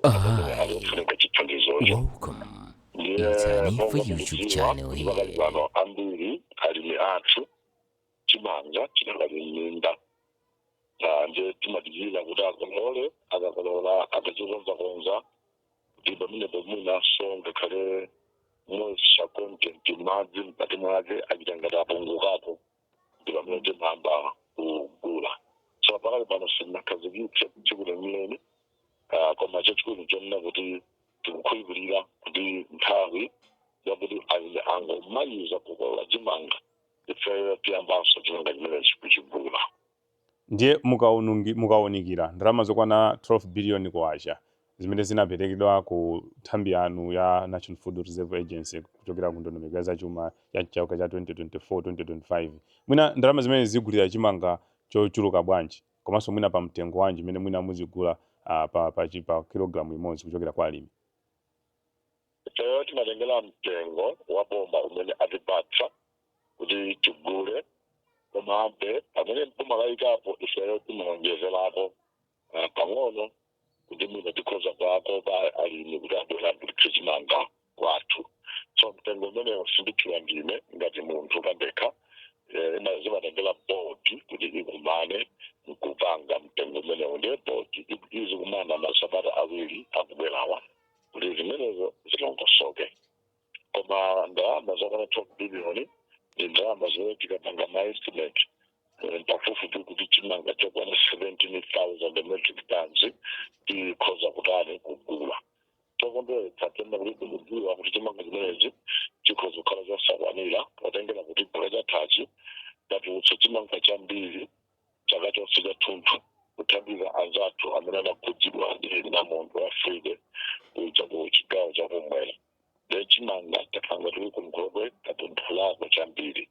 kufunika chithandizocho ndiye monga mukudziwa kuti pakali pano ambiri alimi athu chimanga chinakali m'minda ndiye timadikira kuti akolole akakolola akachikonzakonza kuti pamenepo mwinanso ngakhale moisture content madzi mkati mwake achita ngati apungukako ndi pamene timayamba kugula so pakali pano sinakhazikitse tsiku lenileni Ah, koma chachikulu nchonena kuti tikukhulupirira kuti nthawi yakuti alimi akangomaliza kukolola chimanga ifeyo tiyambanso chimanga chimenechi kuchigula Ndiye mukaunikira ndalama zokwana 12 biliyoni kwacha zimene zinaperekedwa ku nthambi yanu ya National Food Reserve Agency kuchokera ku ndondomeko ya zachuma ya chaka cha 2024, 2025, mwina ndalama zimenezi zigulira chimanga chochuluka bwanji komanso mwina pamtengo wanji umene mwina muzigula pa kilogalamu imodzi kuchokera kwa alimi? ifeyo timatengera mtengo wa boma umene atipatsa kuti tigule komabe pamene boma layikapo ifeyo timaonjezerako ah, pang'ono kuti mwina tikhoza kuwakopa alimi kuti abwere agulitse chimanga kwathu so mtengo umenewo simtchula ndine ngati munthu pandekha eh, ima- zimatengera bodi kuti ikumane nkupanga mtengo umenewo ndiye bodi izikumana masabata awiri akubwerawa kuti zimenezo zilongosoke koma ndalama zokwana 12 biliyoni ndi ndalama zimene tikapanga maestimate pafupifupi kuti chimanga chokwana 17000 metric tons tikhoza kutani kugula komabe tikudziwa kuti chimanga chimenechi chikhoza kukhala chosakwanira potengera kuti chaka chathachi tatulutsa chimanga chambiri chaka chonse chathunthu kuthandiza anzathu amene anakhudzidwa ndi namondwe wa Freddy kuja ku chigawo chakumwera ndiye chimanga chathu mu nkhokwe tatapulako chambiri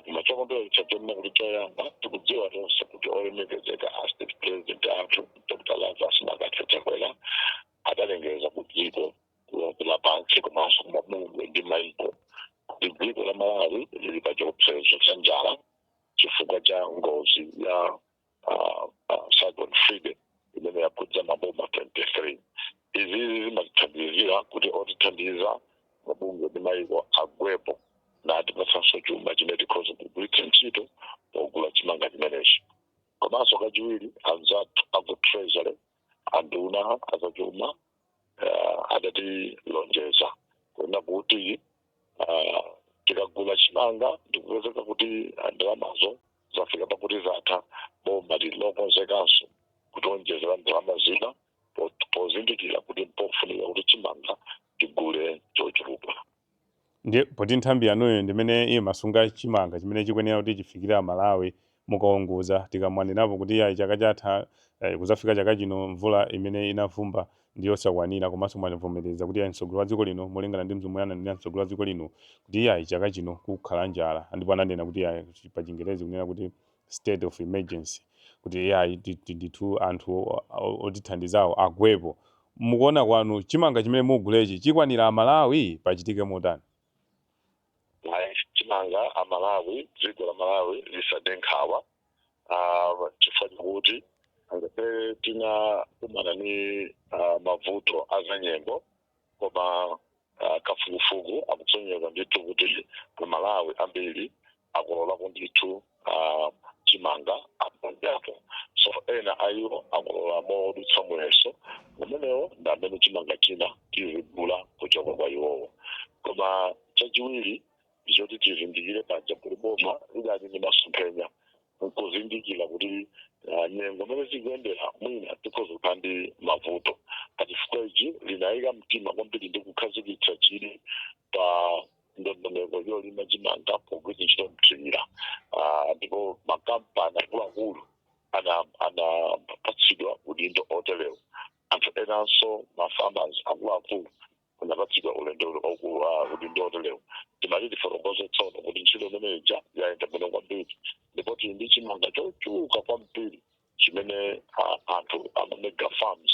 koma chokondweretsa nchonena kuti choyamba tikudziwa tonse kuti olemekezeka a state president athu Dr Lazarus McCarthy Chakwera adalengeza ku dziko lonse lapansi komanso kumabungwe ndi maiko kuti dziko la malawi lili pa chiopsezo cha njala chifukwa cha ngozi ya uh, uh, cyclone Freddy imene yakhudza maboma 23 izi zimatithandizira kuti otithandiza mabungwe ndi mayiko abwerepo natipatsanso chuma chimene tikhoza kugwiritsa ntchito pogula chimanga chimenechi komanso kachiwiri anzathu aku treasury anduna azachuma uh, adatilonjeza kuona kuti uh, tikagula chimanga ndikupezeka kuti ndalamazo zafika pakuti zatha boma lilokonzekanso kutionjezera ndalama zina po- pozindikira kuti mpofunika kuti chimanga tigule chochuluka Ndiye poti nthambi yanuyo ndi imene imasunga chimanga chimene chikwenera kuti chifikire Amalawi mukaunguza, tikamanenapo kuti iyayi chaka chatha, eh, kuzafika chaka chino mvula imene inavumba ndi yosakwanira komanso mwavomereza kuti iyayi mtsogoleri wa dziko lino molingana ndi zomwe ananena mtsogoleri wa dziko lino kuti iyayi chaka chino kukhala njala ndipo ananena kuti iyayi pachingerezi kunena kuti state of emergency kuti iyayi ti- ti- ndithu anthu o- o- otithandizawo agwepo mukuona kwanu chimanga chimene mugulechi chikwanira amalawi pachitike motani Ayi, chimanga amalawi dziko la malawi lisade nkhawa Ah, chifukwa chakuti ngakhale tinakumana ni ah, mavuto azanyengo koma ah, kafukufuku akusonyeza ndithu kuti amalawi ambiri akololako ndithu ah, chimanga aponsoposo ena ayiwo akolola modutsa muyeso umenewo ndi amene chimanga china tizigula kuchoka kwa iwowo koma chachiwiri choti tizindikire paja poti boma lidali ndi masomphenya nkuzindikira kuti ah, nyengo mmene zikuyendera mwina tikhoza kukhala ndi mavuto pachifukwa ichi linayika mtima kwambiri ndi kukhazikitsa chidwi pa ndondomeko yolima chimanga pogwiritsa ntchito mthirira Ah, ndipo makampani akuluakulu ana- anapatsidwa udindo oterewo anthu enanso mafarmers akuluakulu anapatsidwa udindo otelewu timati tifotokoze tsono kuti ntchito imeneija yayenda bwino kwambiri ndipo tili ndi chimanga chochuluka kwambiri chimene ah, anthu amamega farms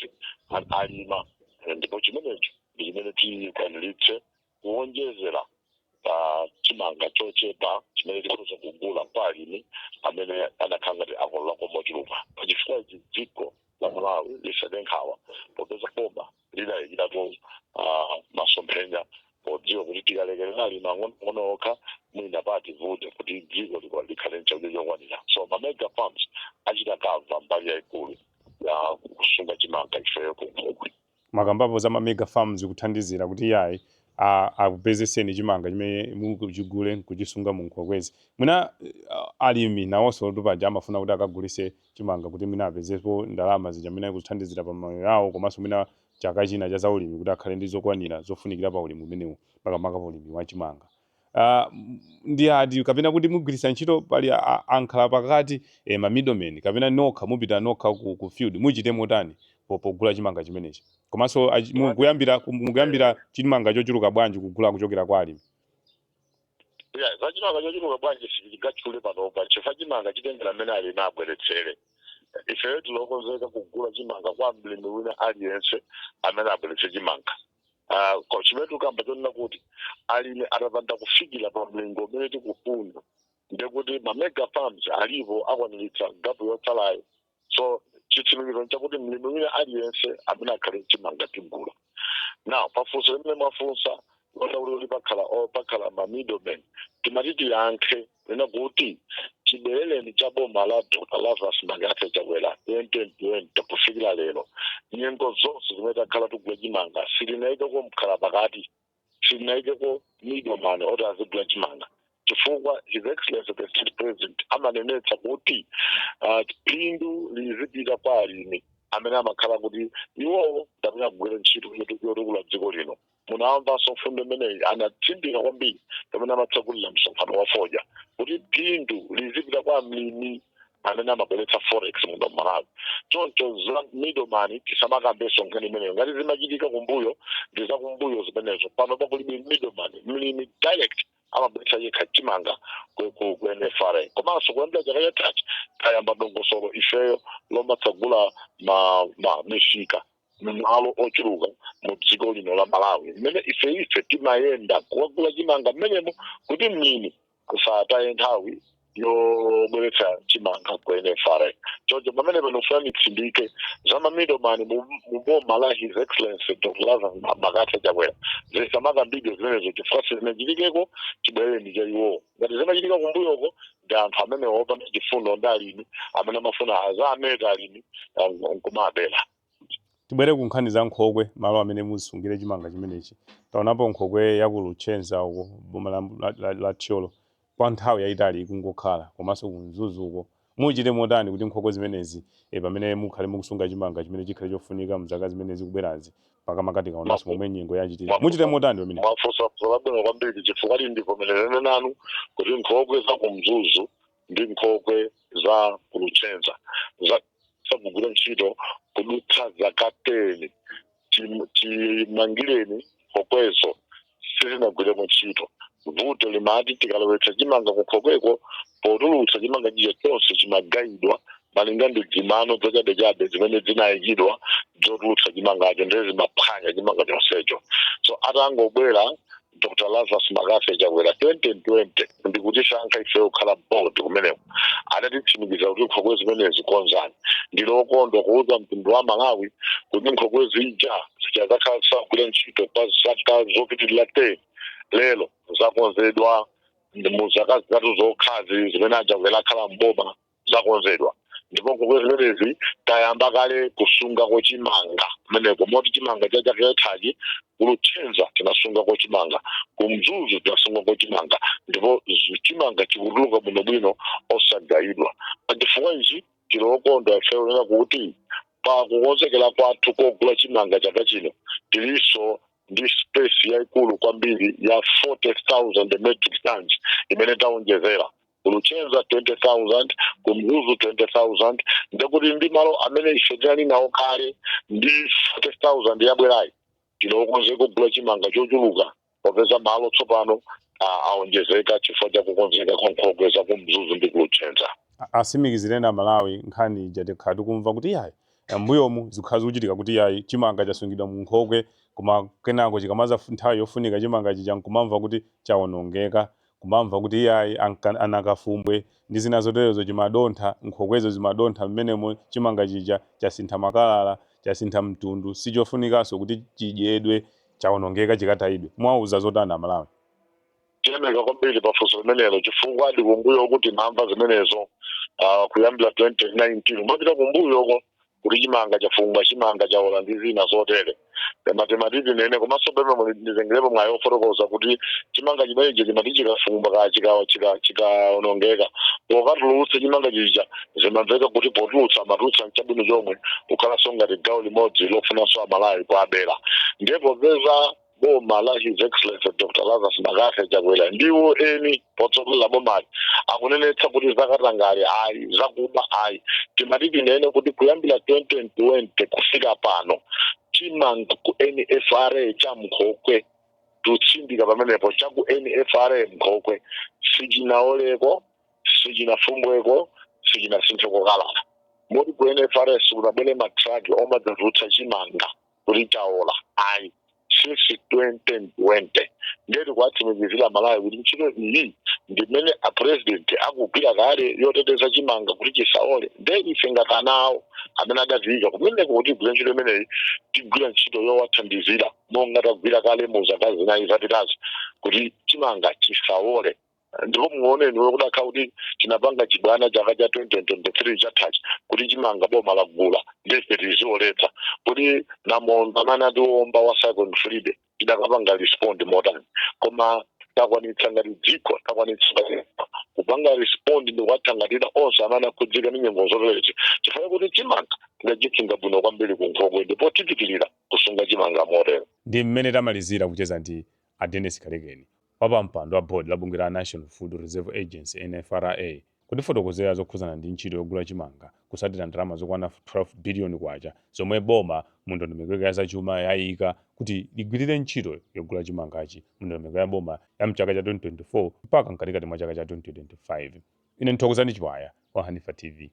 a- alima Eh, ndipo chimenecho ndi chimene tikwaniritse kuwonjezera pa chimanga chochepa chimene tikhoza kugula kwa alimi amene anakhala ngati akolola ko mochuluka pachifukwa ichi dziko la malawi lisade nkhawa popeza boma lidayikiratu ah, masomphenya podziwa kuti tikalekerera alimi ang'ono okha mwina pati vute kuti dziko liko likhale nchakudya chokwanira so ma mega farms achita kava mbali yayikulu ya kusunga chimanga ifeyo kunkhokwe mwakambapo za mamega farms kuthandizira kuti iyayi a- akupezeseni chimanga chimene muchigule nkuchisunga munkhokwezi mwina eh, alimi nawonso ntupaja amafuna kuti akagulise chimanga kuti mwina apezepo ndalama zija mwina kuthandizira pa mamoyo yawo komanso mwina chaka china cha zaulimi kuti akhale ndi zokwanira zofunikira pa ulimi umenewu makamaka pa ulimi wa chimanga Ah, m- ndi ati kapena kuti mugwiritsa ntchito pali a- a- ankhala pakati eh, ma middlemen kapena nokha mupita nokha ku, ku field muchite motani po- pogula chimanga chimenechi komanso achi- mu- kuyambira ku- mukuyambira chimanga chochuluka bwanji kugula kuchokera kwa alimi ya zachimanga chochuluka bwanji sichingachule panopa chifukwa chimanga chitengera mmene alimi abweretsere ifeyo tilokonzeka kugula chimanga kwa mlimi wina aliyense amene abweretse chimanga Ah, ko- chimene tikukamba chonena kuti alimi atapanda kufikira pa mlingo umene tikufuna ndekuti mamega farms alipo akwaniritsa gapu yotsalayo so chitsimikizo nchakuti mlimi wina aliyense amene akhale nchimanga tigula now pafunso limene mwafunsa lonena kuti kuti pakhala o pakhala ma middlemen timati tiyankhe lonena kuti chibwerereni cha boma la dr lazarus mccarthy chakwera 2020 kufikira lero nyengo zonse zimene takhala tigula chimanga silinayikeko mkhala pakati silinayikeko middleman oti azigula chimanga chifukwa his excellency the state president amanenetsa kuti ah, phindu lizipita kwa alimi amene amakhala kuti iwowo ndamene akugwira ntchito yoti- yotukula dziko lino munawamvanso mfundo imeneyi anatsindika kwambiri pamene amatsegulira msonkhano wa fodya kuti phindu lizipita kwa mlimi amene amabweretsa forex muno mmalawi choncho za middleman tisamakambenso nkhani imeneyo ngati zimachitika kumbuyo ndi za kumbuyo zimenezo panopa kulibe middleman mlimi direct amabweretsa yekha chimanga ku- ku ku nfra komanso kuyambira chaka chathachi tayamba dongosolo ifeyo lomatsagula ma ma misika mmalo ochuluka mu dziko lino la malawi mmene ife ife timayenda kuwagula chimanga mmenemo kuti mlimi asataye nthawi yobweretsa chimanga ku nfra choncho pamene pano ndifuna nditsindike za ma middleman mu boma la his excellency dr lazarus mccarthy chakwera zisamakambidwe zimenezo chifukwa sizinachitikeko chibwerereni cha iwowo ngati zimachitika kumbuyoko ndi anthu amene opanda chifundo ndi alimi amene amafuna aziwameta alimi eh, nkumawabera Tibwere ku nkhani za nkhokwe, malo amene musungire chimanga chimenechi. Taonapo nkhokwe ya ku Luchenza uko boma la, la, la, la Thyolo kwa nthawi yayitali ikungokhala komanso ku Mzuzu uko. Muchite motani kuti nkhokwe zimenezi e, pamene mukhale mukusunga chimanga chimene chikhale chofunika mzaka zimene zikubwerazi makamaka tikaonanso momwe nyengo yachitira. Muchite motani pamene? Mwafunsa funso labwino kwambiri chifukwa ndivomerezane nanu kuti nkhokwe za ku Mzuzu ndi nkhokwe za ku luchenza zasakugwira ntchito kudutsa zaka 10 Chim- chimangireni nkhokwezo sizinagwireko ntchito vuto limati tikalowetsa chimanga kunkhokweko potulutsa chimanga chija chonse chimagayidwa malinga ndi dzimano dzachabechabe zimene zinayikidwa zotulutsa chimangacho ndiye zimaphwanya chimanga chonsecho so atangobwera dr lazarus McCarthy chakwera 2020 ndikutisankha ife kukhala board kumeneko adatitsimikiza kuti nkhokwe zimenezi konzani ndilokondwa kuuza mtundu wa malawi kuti nkhokwe zija zija zakhala zisagwira ntchito pa zaka zopitirira 10 lero zakonzedwa mu zaka zitatu zokhazi zimene achakwera akhala mboma zakonzedwa ndipo nkhokwe zimenezi tayamba kale kusungako chimanga kumeneko moti chimanga cha chaka chathachi kuluchenza tinasungako chimanga kumzuzu tinasungako chimanga ndipo zu- chimanga chikutuluka bwinobwino osagayidwa pachifukwa ichi tilokondwa ifeyo kunena kuti pa kukonzekera kwathu kogula chimanga chaka chino tilinso ndi space yaikulu kwambiri ya 40000 metric tons imene taonjezera kuluchenza 20000 kumzuzu 20000 ndekuti ndi malo amene ife tinali nawo kale ndi 40000 yabwerayi tilokonzeka kugula chimanga chochuluka popeza malo tsopano ah, aonjezeka chifukwa cha kukonzeka kwa nkhokwe za kumzuzu ndi kuluchenza A- atsimikizireni amalawi nkhani ija takhala tikumva kuti yayi mbuyomu zakhala zikuchitika kuti yayi chimanga chasungidwa mu nkhokwe koma kenako ikamadza fu- nthawi yofunika chimanga chija nkumamva kuti chawonongeka kumamva kuti iyayi anankafumbwe ndi zina zoterezo chimadontha nkhokwezo zimadontha m'menemo chimanga chija chasintha makalala chasintha mtundu sichofunikanso kuti chidyedwe chaonongeka chikatayidwe muwauza zotani amalawi. Tiyamika kwambiri pa funso limenelo chifukwa eedi kumbuyoko timamva zimenezo ah, kuyambira 2019 kumapita kumbuyoko kuti chimanga chafumbwa chimanga chaola ndi zina zotere koma timati tinene komanso pemwe muli- nditengerepo mwayi ofotokoza kuti chimanga chimenechi chimati chikafumbwa ka chika- chika- chikaonongeka pokatulutsa chimanga chija zimamveka kuti potulutsa amatulutsa mchabwino chomwe kukhalanso ngati gawo limodzi lofunanso amalawi kuwabera ndiye popeza Boma la His Excellency Dr. Lazarus McCarthy Chakwera ndiwo eni potsogolera bomali akunenetsa kuti zakatangale ayi zakuba ayi timati tinene kuti kuyambira 2020 kufika pano chimanga ku NFRA cha mkhokwe tutsindika pamenepo cha ku NFRA mkhokwe sichinaoleko sichinafumbweko sichinasintheko kalala moti ku NFRA sikunabwere matraki omadzatulutsa chimanga kuti chaola ayi since 2020 ndiye tikuwatsimikizira amalawi kuti ntchito iyi ndimene apresident akugwira kale yoteteza chimanga kuti chisaole ndiye ife ngati ana awo amene adatiika kumeneko kutigwira ntchito imeneyi tigwira ntchito yowathandizira monga tagwira kale mu zaka zinayi zapitazi kuti chimanga chisaole ndipo muone ndiwe kudakakhala kuti tinapanga chibwana chaka cha 2023 chathachi kuti chimanga boma lagula ndiye tizilowetsa kuti namondwe amene atiwomba wa cyclone freddy tidakapanga respond motani koma takwanitsa ngati dziko takwanitsa kupanga respond ndikuwathangatira onse amene akhudzika ndi nyengo zoterezi chifukwa kuti chimanga tidachisunga bwino kwambiri ku nkhokwe ndipo tipitirira kusunga chimanga motero ndi mmene tamalizira kucheza ndi a Dennis Kalekeni, wapa mpando wa board la bungwe la National Food Reserve Agency, NFRA, kutifotokozera zokhudzana ndi ntchito yogula chimanga kusatira ndalama zokwana 12 billion kwacha zomwe boma mu ndondomeko yake ya zachuma yaika kuti ligwirire ntchito yogula chimangachi mu ndondomeko ya boma ya mchaka cha 2024 mpaka mkatikati mwa chaka cha 2025. Ine ndi Thokozani Chiwaya wa Hanifa TV.